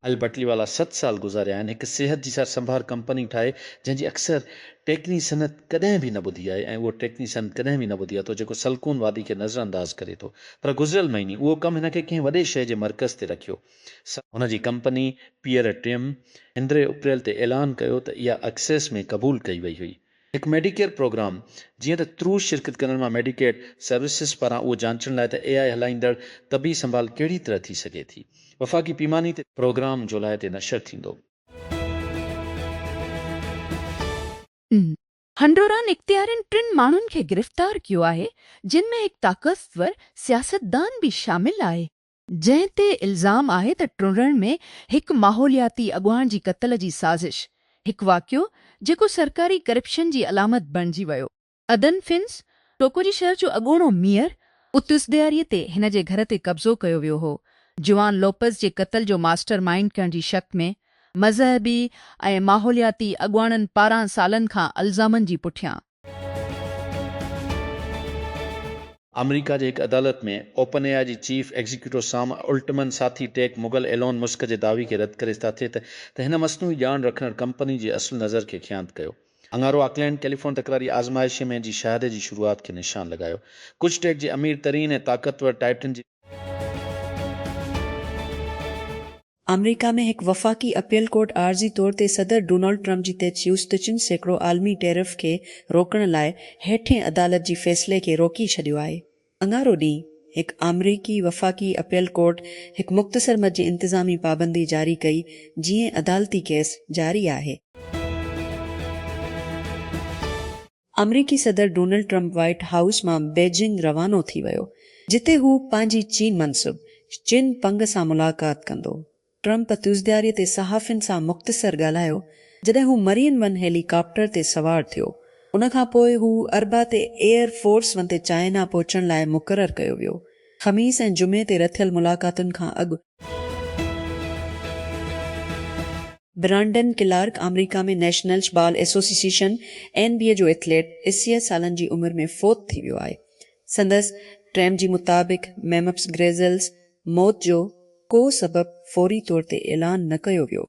اهل بٽلي والا ست سال گذاريا آهن هڪ صحت جي سار سنڀار ڪمپني ٺاهي جنهن جي اڪثر ٽيڪني صنعت ڪڏهن به نه ٻڌي آهي ۽ اهو ٽيڪني صنعت ڪڏهن به نه ٻڌي آهي ٿو جيڪو سلڪون وادي کي نظر انداز ڪري ٿو پر گذريل مهيني اهو ڪم هن کي ڪنهن وڏي شهر جي مرڪز تي رکيو سا هن جي ڪمپني پيئر ٽيم اندري اپريل تي اعلان ڪيو ته اها اڪسيس ۾ قبول ڪئي وئي هئي هڪ ميڊيڪيئر پروگرام، جيئن ته ترو شرڪت ڪندڙن مان ميڊيڪيڊ سروسز پاران اهو جانچڻ لاء ته اي آء هلائيندڙ طبي سنڀال ڪهڙي طرح ٿي سگهي ٿي وفاقي پيماني تي پروگرام جولاء تي نشر ٿيندو. هنڊوران اختيارين ٽن ماڻهن کي گرفتار ڪيو آهي جن ۾ هڪ طاقتور سياستدان به شامل آهي. جنهن تي الزام آهي ته ٽنڊڻ ۾ هڪ ماحولياتي اڳواڻ جي قتل جي سازش، هڪ واقعو جيڪو سرڪاري ڪرپشن جي علامت بڻجي ويو. ادن فنس، ٽوڪوجي شهر جو اڳوڻو ميئر، اتس ڏياري تي هن جي گهر تي قبضو ڪيو ويو هو، جوان لوپز جي قتل جو ماسٽر مائينڊ ڪرڻ جي شڪ ۾ مذهبي ۽ ماحولياتي اڳواڻن پاران سالن کان الزامن جي پٺيان. آمريڪا جي هڪ عدالت ۾ اوپن اي آء جي چيف ايگزيڪيوٽو سام الٽمن ساٿي ٽيڪ مغل ايلون مسڪ جي دعوي کي رد ڪري ساٿي ته ته هن مصنوعي ڄاڻ رکندڙ ڪمپني جي اصل نظر کي خيانت ڪيو اڱارو آڪلينڊ ڪيليفون تڪراري آزمائشي ۾ جي شهادي جي شروعات کي نشان لڳايو ڪجهه ٽيڪ جي امير ترين ۽ طاقتور ٽائٽن جي آمريڪا ۾ هڪ وفاقي اپيل ڪورٽ عارضي طور تي صدر ڊونلڊ ٽرمپ جي تجويز ته چن سيڪڙو عالمي ٽيرف کي روڪڻ لاء هيٺين عدالت جي فيصلي کي روڪي ڇڏيو آهي. اڱارو ڏينهن هڪ آمريڪي وفاقي اپيل ڪورٽ هڪ مختصر مد جي انتظامي پابندي جاري ڪئي جيئن عدالتي ڪيس جاري آهي. آمريڪي صدر ڊونلڊ ٽرمپ وائيٽ هائوس مان بيجنگ روانو ٿي ويو جتي هو پنهنجي چين منصب چن پنگ سان ملاقات ڪندو. ٽرمپ تيوزدياري تي صحافين سان مختصر ڳالهايو جڏهن هو مرين ون هيلي ڪاپٽر تي سوار ٿيو. ان کان پوء هو اربع تي ايئر فورس ون تي چائنا پهچڻ لاء مقرر ڪيو ويو. خميس ۽ جمعي تي رٿيل ملاقاتن کان اڳ برانڊن ڪلارڪ آمريڪا ۾ National Ball Association, N B A, جو ايٿليٽ اسيء سالن جي عمر ۾ فوت ٿي ويو آهي. سندس ٽيم جي مطابق ميمفس گريزلز موت جو ڪو سبب فوري طور تي اعلان نه ڪيو ويو.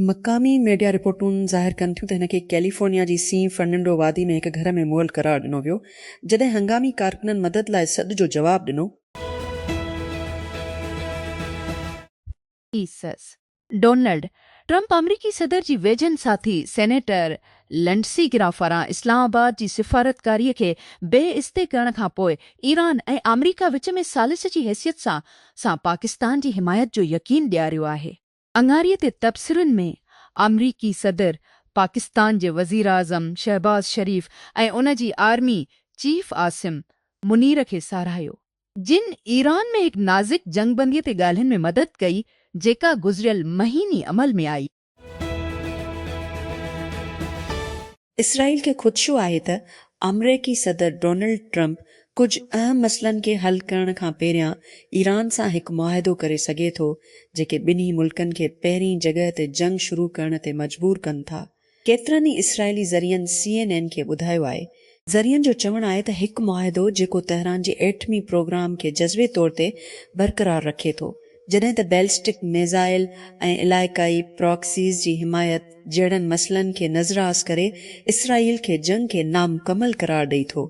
مقامي ميڊيا رپورٽون ظاهر ڪن ٿيون ته هن کي ڪيليفورنيا جي سين فرننڊو وادي ۾ هڪ گهر ۾ مئل قرار ڏنو ويو، جڏهن هنگامي ڪارڪنن مدد لاء سڏ جو جواب ڏنو. ايسز، ڊونلڊ ٽرمپ آمريڪي صدر جي ويجهن ساٿي سينيٽر لنڊسي گرام پاران اسلام آباد جي سفارتڪاري کي بي استي ڪرڻ کان پوء ايران ۽ آمريڪا وچ ۾ ثالث جي حيثيت سان سان پاڪستان جي حمايت جو يقين ڏياريو آهي. اڱاري تي تبصرن ۾ آمريڪي صدر، پاڪستان جي وزيراعظم شهباز شريف ۽ ان جي آرمي چيف عاصم منير کي ساراهيو، جن ايران ۾ هڪ نازڪ جنگ بندي تي ڳالهين ۾ مدد ڪئي، جيڪا گذريل مهيني عمل ۾ آئي. اسرائيل کي خدشو آهي ته آمريڪي صدر ڊونلڊ ٽرمپ ڪجهه اهم مسئلن کي حل ڪرڻ کان پهريان ايران سان هڪ معاهدو ڪري سگهي ٿو، جيڪي ٻنهي ملڪن کي پهرين جڳهه تي جنگ شروع ڪرڻ تي مجبور ڪن ٿا. ڪيترن ئي اسرائيلي ذريعن سي اين اين کي ٻڌايو آهي، ذريعن جو چوڻ آهي ته هڪ معاهدو جيڪو تهران جي ايٽمي پروگرام کي جزوي طور تي برقرار رکي ٿو، جڏهن ته بيلسٽڪ ميزائل ۽ علائقائي پراڪسيز جي حمايت جهڙن مسئلن کي نظراس ڪري اسرائيل کي جنگ کي نامڪمل قرار ڏئي ٿو.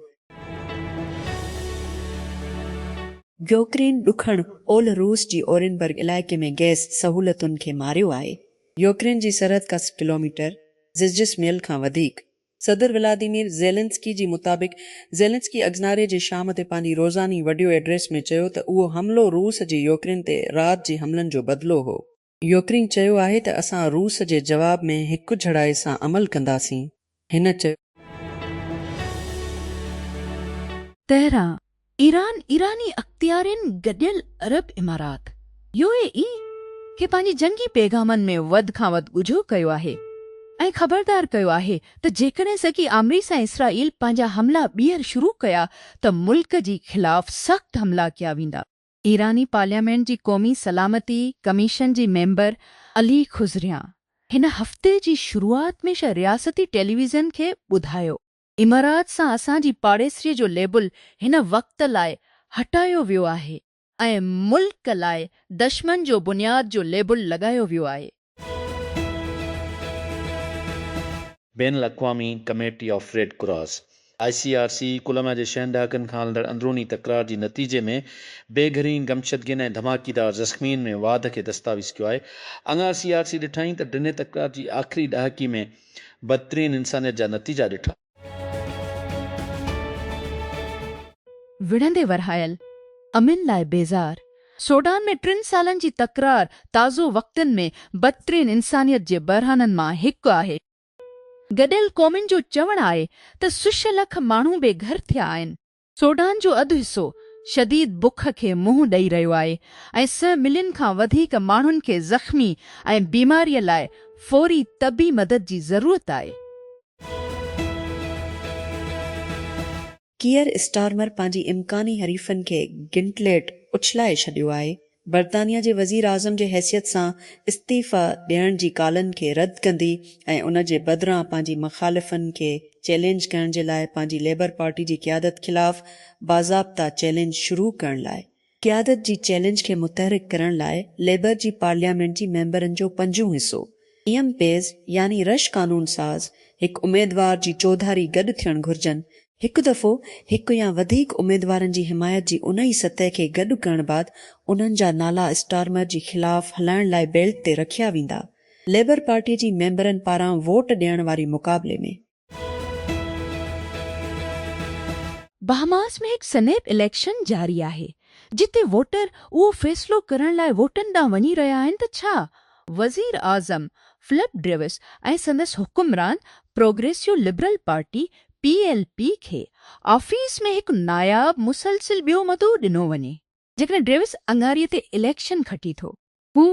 يوڪرين ڏکڻ اولھ روس جي اورينبرگ علائقي ۾ گئس سهولتن کي ماريو آهي. يوڪرين جي سرحد کان سي ڪلوميٽر، زجسميل کان وڌيڪ، صدر ولاديمير زيلنسڪي جي مطابق زيلنسڪي اگزناري جي شام تي پنهنجي روزاني وڊيو ايڊريس ۾ چيو ته اهو حملو روس جي يوڪرين تي رات جي حملن جو بدلو هو. يوڪرين چيو آهي ته اسان روس جي جواب ۾ هڪجھڙائي سان عمل ڪنداسين، هن چيو. تهران، ايران، ايراني اختيارين گڏيل عرب امارات، يو اي اي، کي پنهنجي جنگي پيغامن ۾ وڌ کان وڌ ڳجهو ڪيو آهي ۽ خبردار ڪيو آهي ته جيڪڏهن سگي آمريس ۽ اسرائيل پنهنجا حملا ٻيهر شروع ڪيا ته ملڪ جي خلاف سخت حملا ڪيا ويندا. ايراني پارليامينٽ جي قومي سلامتي ڪميشن جي ميمبر علي خضريان هن هفتي جي شروعات ۾ رياستي ٽيليويزن کي ٻڌايو امارات سان اسان جي پاڙيسري جو ليبل هن وقت لاء هٽايو ويو آهي ۽ ملڪ لاء دشمن جو بنياد جو ليبل لڳايو ويو آهي. بين الاقوامي committee of Red Cross, I C R C, Colombia جي ڇهن ڏهاڪن کان هلندڙ اندروني تڪرار جي نتيجي ۾ بي گهرين گمشدگين ۽ ڌماڪيدار زخمين ۾ واڌ کي دستاويز ڪيو آهي. اڱار سي آر سي ڏٺائين ته ڊنهي تڪرار جي آخري ڏهاڪي ۾ بدترين انسانيت جا نتيجا ڏٺا. وڙهندي ورهايل، امن لاء بيزار، سوڊان ۾ ٽن سالن جي تڪرار تازو وقتن ۾ بدترين انسانيت جي بحرانن مان هڪ آهي. گڏيل قومن جو چوڻ آهي ته سش لک ماڻهو بي گهر ٿيا آهن. سوڊان جو اڌ حصو شديد بک کي منهن ڏئي رهيو آهي ۽ سئه ملين کان وڌيڪ ماڻهن کي زخمي ۽ بيماريء لاء فوري طبي مدد جي ضرورت آهي. ڪيئر اسٽارمر پنهنجي امڪاني حريفن کي گنٽليٽ اڇلائي ڇڏيو آهي برطانيا جي وزيراعظم جي حيثيت سان استعيفيٰ ڏيڻ جي ڪالن کي رد ڪندي ۽ ان جي بدران پنهنجي مخالفن کي چئلينج ڪرڻ جي لاء پنهنجي ليبر پارٽي جي قيادت خلاف باضابطه چئلينج شروع ڪرڻ لاء قيادت جي چئلينج کي متحرڪ ڪرڻ لاء ليبر جي پارليامينٽ جي ميمبرن جو پنجون حصو، ايم پيز يعني رش قانون ساز، هڪ اميدوار جي چوڌاري گڏ ٿيڻ گهرجن هڪ دفعو هڪ يا وڌيڪ اميدوارن جي حمايت جي انهي سطح کي گڏ ڪرڻ بعد انهن جا نالا اسٽارمر جي خلاف هلائڻ لاء بيلٽ تي رکيا ويندا. ليبر پارٽي جي ميمبرن پاران ووٽ ڏيڻ واري مقابلي ۾. بهاماس ۾ هڪ سنيپ اليڪشن جاري آهي، جتي ووٽر اهو فيصلو ڪرڻ لاء ووٽن ڏانهن وڃي رهيا آهن ته ڇا وزيراعظم فلپ ڊريوس ۽ سندس حڪمران progressive liberal party, P L P کي آفيس ۾ هڪ ناياب مسلسل ٻيو مدو ڏنو وڃي. جيڪڏهن ڊيوس اڱاري تي اليڪشن کٽي ٿو. هو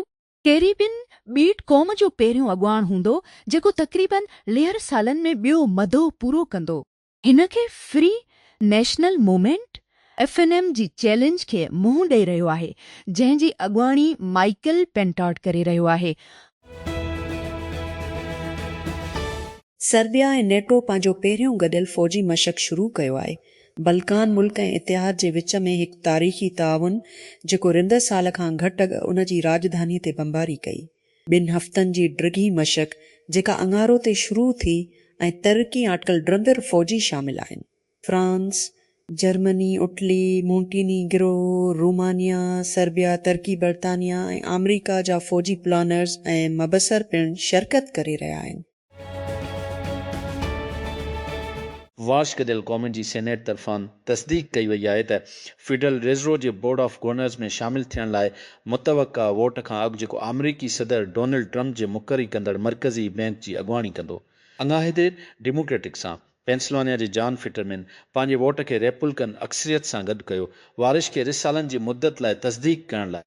ڪيريبين ٻيٽ قوم جو پهريون اڳواڻ هوندو جيڪو تقريباً ليهر سالن ۾ ٻيو مدو پورو ڪندو. هن کي free national movement F N M جي چئلينج کي منهن ڏئي رهيو آهي جنهن جي اڳواڻي مائيڪل پينٽاٽ ڪري رهيو آهي. سربيا ۽ نيٽو پنهنجو پهريون گڏيل فوجي مشق شروع ڪيو آهي. بلڪان ملڪ ۽ اتحاد جي وچ ۾ هڪ تاريخي تعاون جيڪو رندر سال کان گهٽ اڳ ان جي راڄڌاني تي بمباري ڪئي. ٻن هفتن جي ڊگهي مشق جيڪا اڱارو تي شروع ٿي ۽ ترقي آٽڪل ڊرندر فوجي شامل آهن. France, Germany, Italy, Montenegro, Romania, Serbia, ترڪي، برطانيا ۽ آمريڪا جا فوجي پلانرز ۽ مبصر پڻ شرڪت ڪري رهيا آهن. وارشڪ ديل قومن جي سينيٽ طرفان تصديق ڪئي وئي آهي ته فيڊرل ريزرو جي بورڊ آف گورنرز ۾ شامل ٿيڻ لاء متوقع ووٽ کان اڳ جيڪو آمريڪي صدر ڊونلڊ ٽرمپ جي مقري ڪندڙ مرڪزي بئنڪ جي اڳواڻي ڪندو. اڱاهي دير ڊيموڪريٽڪ سان پينسلوانيا جي جان فٽرمين پنهنجي ووٽ کي ريپولڪن اڪثريت سان گڏ ڪيو، وارش کي رسالن جي مدت لاء تصديق ڪرڻ لاء.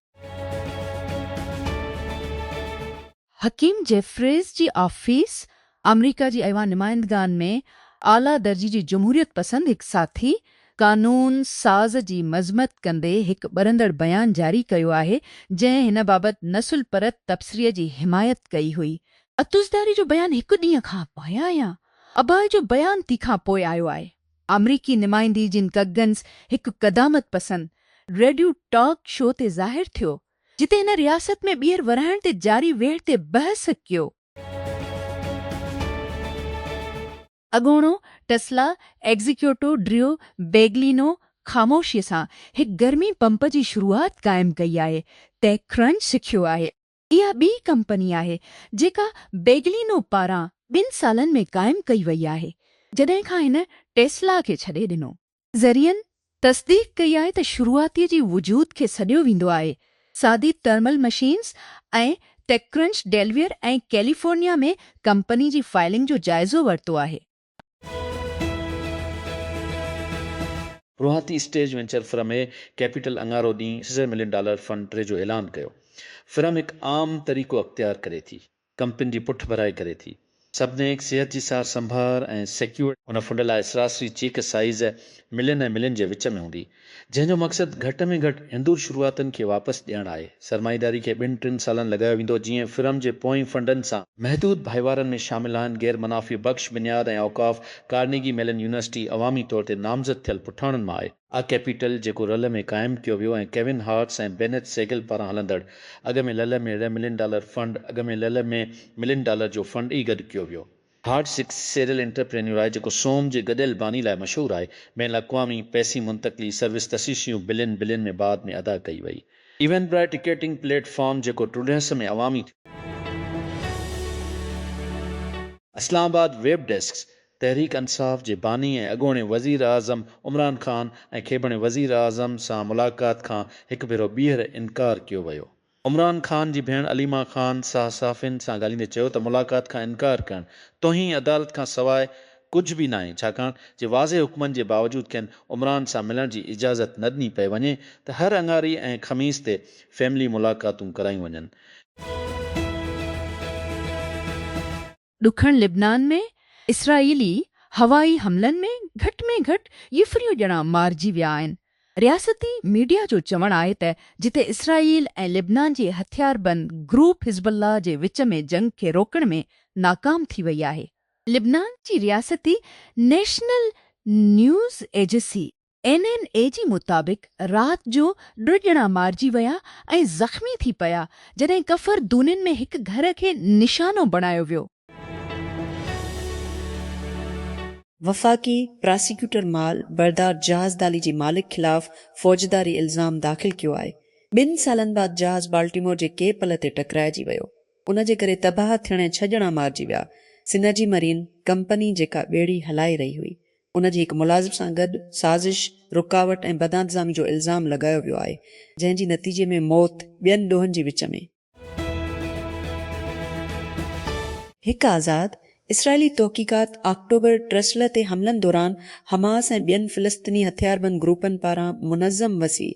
حڪيم جيفريز جي آفيس آمريڪا جي ايوان نمائندگان ۾ اعليٰ درجي جي جمهوريت پسند هڪ ساٿي قانون ساز جي مذمت ڪندي هڪ ٻرندڙ بيان جاري ڪيو آهي جنهن هن بابت نسل پرت تبصري جي حمايت ڪئي هئي. عطوزرداري جو بيان هڪ ڏينهن کان پايان يا اباهه جو بيان تي کان پوء آيو آهي. آمريڪي نمائندي جن ڪگنز هڪ قدامت پسند ريڊيو ٽاڪ شو تي ظاهر ٿيو، جتي هن رياست ۾ ٻيهر ورهائڻ تي جاري ويڙهه تي بحث ڪيو. اڳوڻو ٽسلا ايگزيڪيوٽو ڊريو بيگلينو خاموشيء سان هڪ گرمي پمپ جي شروعات قائم ڪئي آهي، ٽيڪ ڪرنچ سکيو آهي. اها ٻي ڪمپني آهي جيڪا بيگلينو پاران ٻن سالن ۾ قائم ڪئي وئي آهي جڏهن کان هن ٽيسلا کي ڇڏي ڏنو. ذريعن تصديق ڪئي آهي ته شروعاتي جي وجود کي سڏيو ويندو آهي، سادي thermal machines ۽ TechCrunch Delaware ۽ California ۾ company جي فائلنگ جو جائزو ورتو آهي. روهاتي stage venture firm A capital اڱارو ڏينهن سيزر ملين ڊالر فنڊ ٽري جو اعلان ڪيو. فرم هڪ عام طريقو اختيار ڪري ٿي. ڪمپني جي پٺڀرائي ڪري ٿي. سبنيڪ صحت جي سار سنڀار ۽ سيڪيورڊ. هن فنڊ لاء سراسري چيڪ سائيز ملين ۽ ملين جي وچ ۾ هوندي. جنهن جو مقصد گهٽ ۾ گهٽ هندور شروعاتن کي واپس ڏيڻ آهي. سرمائيداري کي ٻن ٽن سالن لڳايو ويندو جيئن فرم جي پوئين فنڊن سان. محدود ڀائيوارن ۾ شامل آهن غير منافع بخش بنياد ۽ اوقاف، ڪارنيگي ميلن يونيورسٽي عوامي طور تي نامزد ٿيل پٺاڻن مان آهي. آء ڪيپيٽل جيڪو رل ۾ قائم ڪيو ويو ۽ ڪيون هارٽس ۽ بينيٿ سيگل پاران هلندڙ اڳ ۾ لل ۾ ري ملين ڊالر فنڊ اڳ ۾ لل ۾ ملين ڊالر جو فنڊ ئي گڏ ڪيو ويو. هارڊ سڪس سيريل انٽرپرينيور آهي جيڪو سوم جي گڏيل باني لاء مشهور آهي. بين الاقوامي پئسي منتقلي سروس تشيشيون بلين بلين ۾ بعد ۾ ادا ڪئي وئي. Eventbrite ticketing platform جيڪو ٽرڊهس ۾ عوامي ٿيو. اسلام آباد، ويب ڊيسڪ، تحريڪ انصاف جي باني ۽ اڳوڻي وزيراعظم عمران خان ۽ کيبڻي وزيراعظم سان ملاقات کان هڪ ڀيرو ٻيهر انڪار ڪيو ويو عمران خان جي ڀيڻ عليما خان صحافين سان ڳالهيندي چيو ته ملاقات کان انڪار ڪرڻ توهين عدالت کان سواء ڪجهه به ناهي ڇاڪاڻ جي واضح حڪمن جي باوجود کين عمران سان ملڻ جي اجازت نه ڏني پئي وڃي ته هر اڱاري ۽ خميس تي فيملي ملاقاتون ڪرايون وڃن. ڏکڻ لبنان ۾ اسرائيلي هوائي حملن ۾ گهٽ ۾ گهٽ يفريون ڄڻا مارجي ويا آهن. رياستي ميڊيا جو چوڻ آهي ته جتي اسرائيل ۽ لبنان جي هٿياربند گروپ حزب الله جي وچ ۾ جنگ کي روڪڻ ۾ ناڪام ٿي وئي آهي. لبنان جي رياستي نيشنل نيوز ايجسي اين اين اي جي مطابق رات جو ٽه ڄڻا مارجي ويا ۽ زخمي ٿي پيا جڏهن ڪفر دونين ۾ هڪ گهر کي نشانو بڻايو ويو. وفاقي پراسيڪيوٽر مال بردار جهاز دالي جي مالڪ خلاف فوجداري الزام داخل ڪيو آهي، ٻن سالن بعد جهاز بالٽيمور جي ڪي پل تي ٽڪرائجي ويو، ان جي ڪري تباهه ٿيڻ ۽ ڇهه ڄڻا مارجي ويا، سنرجي مرين ڪمپني جيڪا ٻيڙي هلائي رهي هئي، ان جي هڪ ملازم سان گڏ سازش، رڪاوٽ ۽ بدانتظامي جو الزام لڳايو ويو آهي، جنهن جي نتيجي ۾ موت ٻين ڏوهن جي وچ ۾. هڪ آزاد اسرائيلي تحقيقات آڪٽوبر ٽرسلر تي حملن دوران حماس ۽ ٻين فلسطيني هٿياربند گروپن پاران منظم وسيع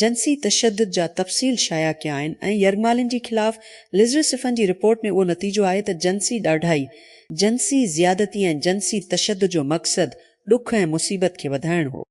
جنسي تشدد جا تفصيل شايع ڪيا آهن ۽ يرغمالين جي خلاف لزرسفن جي رپورٽ ۾ اهو نتيجو آهي ته جنسي ڏاڍائي جنسي زيادتي ۽ جنسي تشدد جو مقصد ڏک ۽ مصيبت کي وڌائڻ هو.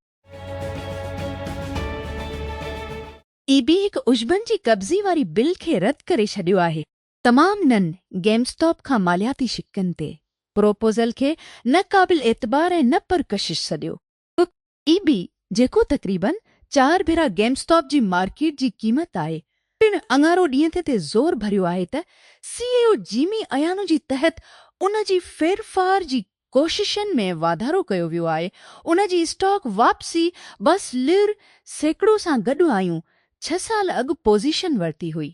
اي بي هڪ عشبن جي قبضي واري بل کي رد ڪري ڇڏيو آهي. تمام نن گيم اسٽاپ کان مالياتي شقن تي پروپوزل کي نه قابل اعتبار ۽ نه پرڪشش سڏيو. پ اي بي جيڪو تقريباً چار ڀيرا گيم اسٽاپ جي مارڪيٽ جي قيمت آهي پڻ اڱارو ڏينهن تي تي زور ڀريو آهي ته سي اي او جيمي ايانو جي تحت ان جي ڦيرڦار جي ڪوششن ۾ واڌارو ڪيو ويو آهي ان جي اسٽاڪ واپسي بس لر سيڪڙو سان گڏ آيون ڇهه سال اڳ پوزيشن ورتي هئي.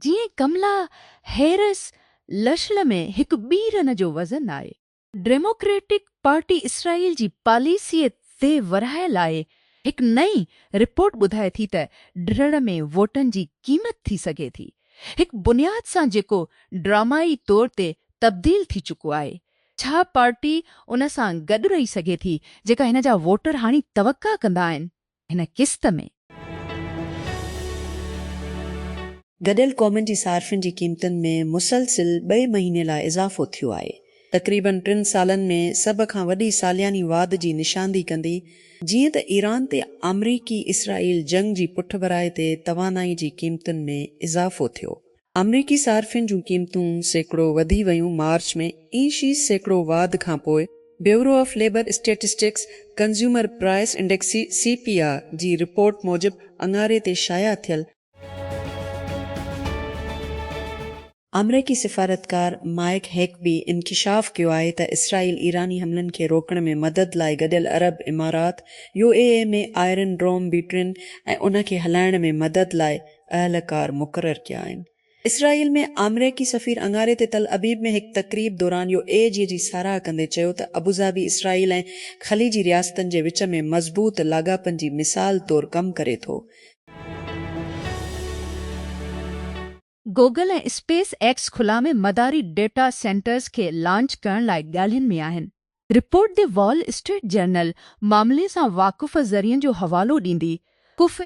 جيئن ڪملا هيرس لشل ۾ هڪ ٻي رن جو وزن آهي. ڊيموڪريٽڪ پارٽي اسرائيل جي پاليسيء تي ورهاء لاء هڪ نئين رپورٽ ٻڌائي ٿي ته ڊھڙ ۾ ووٽن جي قيمت ٿي سگهي ٿي هڪ بنياد سان جيڪو ڊرامائي طور تي تبديل ٿي چڪو آهي ڇا پارٽي ان سان گڏ رهي سگهي ٿي جيڪا هن جا ووٽر هاڻي توقع ڪندا آهن هن قسط ۾. گڏيل قومن جي صارفين جي قيمتن ۾ مسلسل ٻئي مهيني لاء اضافو ٿيو آهي. تقريبن ٽن سالن ۾ سڀ کان وڏي سالياني واڌ جي نشاندهي ڪندي جيئن ته ايران تي آمريڪي اسرائيل جنگ جي پٺڀرائي تي توانائي جي قيمتن ۾ اضافو ٿيو آمريڪي صارفين جون قيمتون سيڪڙو وڌي ويون مارچ ۾ اي شي سيڪڙو واڌ کانپوء Bureau of Labor Statistics Consumer Price Index, C P I, جي رپورٽ موجب اڱاري تي شايع ٿيل، آمريڪي سفارتڪار مائيڪ هيڪبي انڪشاف ڪيو آهي ته اسرائيل ايراني حملن کي روڪڻ ۾ مدد لاء گڏيل عرب امارات، U A E, ۾ Iron Dome بيٽرين ۽ ان کي هلائڻ ۾ مدد لاء اهلڪار مقرر ڪيا آهن. اسرائيل ۾ آمريڪي سفير اڱاري تي تل ابيب ۾ هڪ تقريب دوران يو اي جي جي ساراهه ڪندي چيو ته ابوظهبي اسرائيل ۽ خليجي رياستن جي وچ ۾ مضبوط لاڳاپن جي مثال طور ڪم ڪري ٿو. گوگل ۽ اسپيس ايڪس خلا ۾ مداري ڊيٽا سينٽرز کي لانچ ڪرڻ لاء ڳالهين ۾ آهن. Report the Wall Street Journal معاملي سان واقف ذريعن جو حوالو ڏيندي ڪف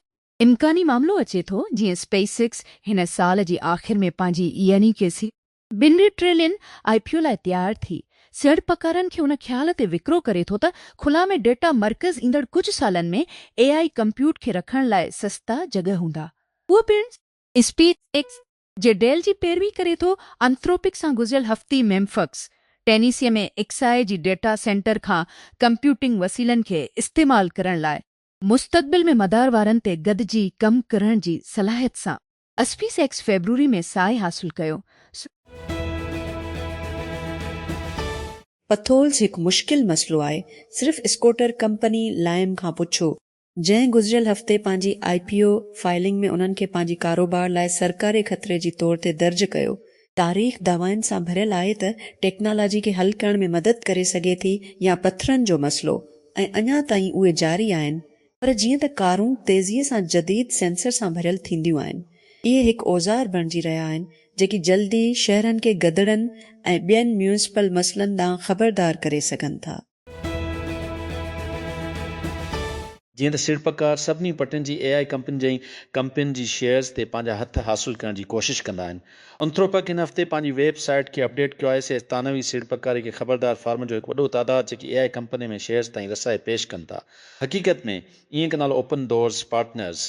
امڪاني معاملو اچي ٿو جيئن اسپيس ايڪس هن سال جي آخر ۾ پنهنجي يعني ڪي سي. ٻن ٽريلين آء پي او لاء تيار ٿي سيڙپڪارن کي ان خيال تي وڪرو ڪري ٿو ته خلا ۾ ڊيٽا مرڪز ايندڙ ڪجهه سالن ۾ اي آء ڪمپيوٽ کي رکڻ لاء سستا جڳهه هوندا اهو پڻ اسپيس ايڪس جي ڊيل جي پيروي ڪري ٿو انٿروپڪ سان گذريل هفتي ميمفڪس ٽينيسي ۾ ايڪس آء جي ڊيٽا سينٽر کان ڪمپيوٽنگ وسيلن کي استعمال ڪرڻ لاء مستقبل ۾ مدار وارن تي گڏجي ڪم ڪرڻ جي صلاحيت سان اسپيس ايڪس فيبروري ۾ ساهي حاصل ڪيو. پٿولز هڪ مشڪل مسئلو آهي، صرف اسڪوٽر ڪمپني لائم کان پڇو، جنهن گذريل هفتي پنهنجي آء پي او فائلنگ ۾ انهن کي پنهنجي ڪاروبار لاء سرڪاري خطري جي طور تي درج ڪيو، تاريخ دعوائن سان ڀريل آهي ته ٽيڪنالاجي کي حل ڪرڻ ۾ مدد ڪري سگهي ٿي يا پٿرن جو مسئلو ۽ اڃا تائين اهي جاري آهن پر جيئن ته ڪارون تيزيء سان جديد سينسر سان ڀريل ٿينديون آهن اهي هڪ اوزار بڻجي رهيا آهن جيڪي جلدي شهرن کي گدڙن ۽ ٻين ميونسپل مسئلن ڏانهن خبردار ڪري سگهن ٿا. جيئن ته سيڙپڪار سڀني پٽين جي اي آء ڪمپنين جي ڪمپنين جي شيئرز تي پنهنجا هٿ حاصل ڪرڻ جي ڪوشش ڪندا آهن. انٿروپڪ هن هفتي پنهنجي ويب سائيٽ کي اپڊيٽ ڪيو آهي. سيئرز ثانوي سيڙپڪاري کي خبردار فارمن جو هڪ وڏو تعداد جيڪي اي آء ڪمپنين ۾ شيئرز تائين رسائي پيش ڪن ٿا. حقيقت ۾ اينڪ نالو اوپن ڊورز پارٽنرز